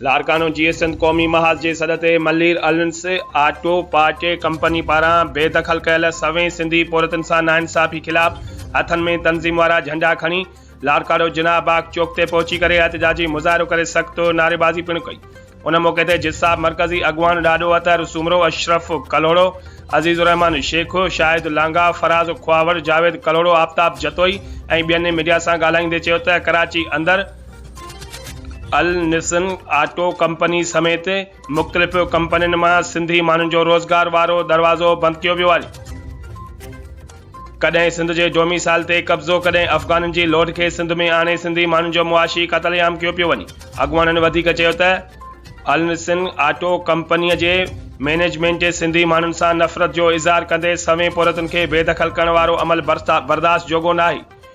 لاڙڪاڻو جيئي سنڌ قومي محاذ جي سڏ تي ملير النس آٽو پارٽي ڪمپني پاران بي دخل ڪيل سوين سنڌي پورهيتن سان ناانصافي خلاف هٿن ۾ تنظيم وارا جهنڊا کڻي لاڙڪاڻو جناح باغ چوڪ تي پهچي ڪري احتجاجي مظاهرو ڪري سخت نعريبازي پڻ ڪئي ان موقعي تي جساب مرڪزي اڳواڻ ڏاڏو اطهر سومرو اشرف ڪلهوڙو عزيز الرحمان شيخ شاهد لانگاهه فراز کهاوڙ جاويد ڪلهوڙو آفتاب جتوئي ۽ ٻين ميڊيا سان ڳالهائيندي چيو ته ڪراچي اندر النسن آٽو ڪمپني سميت مختلف ڪمپنين مان سنڌي ماڻهن جو روزگار وارو دروازو بند ڪيو ويو آهي. ڪڏهن سنڌ جي ڊوميسائل تي قبضو ڪڏهن افغانن جي لوڍ کي سنڌ ۾ آڻي سنڌي ماڻهن جو معاشي قتل عام ڪيو پيو وڃي. اڳواڻن وڌيڪ چيو ته النسن آٽو ڪمپني جي مينيجمينٽ سنڌي ماڻهن سان نفرت جو اظهار ڪندي سوين پورهيتن کي بيدخل ڪرڻ وارو عمل برداشت جوڳو ناهي.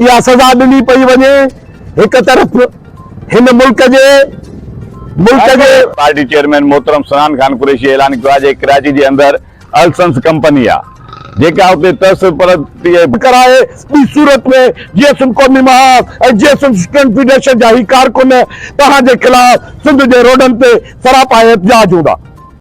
اها سزا ڏني پئي وڃي هڪ طرف هن ملڪ جي ملڪ جي. پارٽي چيئرمين محترم سنان خان قريشي اعلان ڪيو آهي جي ڪراچي جي اندر السنس ڪمپني آ جيڪا اتي ترس پرتي. ڪرائي ٻي صورت ۾ جي ايس ايم قومي محاذ ۽ J S M student federation جا هي ڪارڪن توهان جي خلاف سنڌ جي روڊن تي سراپا احتجاج هوندا.